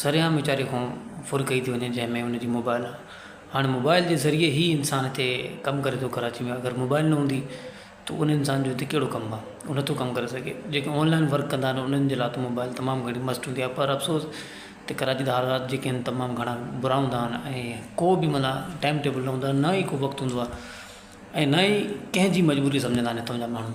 سرعام ويچاري کان ڦر ڪئي ٿي وڃي جنهن ۾ ان جي موبائل آ هاڻي موبائل جي ذريعي هي انسان هتي ڪم ڪري ٿو ڪراچي ۾ اگر موبائل نه هوندي ته ان انسان جو هتي ڪهڙو ڪم آ هو نٿو ڪم ڪري سگهي جيڪي آنلائن ورڪ ڪندا آهن انهن جي لاء ته موبائل تمام گهڻي مست هوندي آ پر افسوس ته ڪراچي جا حالات جيڪي آهن تمام گهڻا برا هوندا آهن ۽ ڪو به معنيٰ ٽائيم ٽيبل نه هوندو آ نه ئي ڪو وقت هوندو آ ۽ نه ئي ڪنهن جي مجبوري سمجهندا آهن هتان جا ماڻهو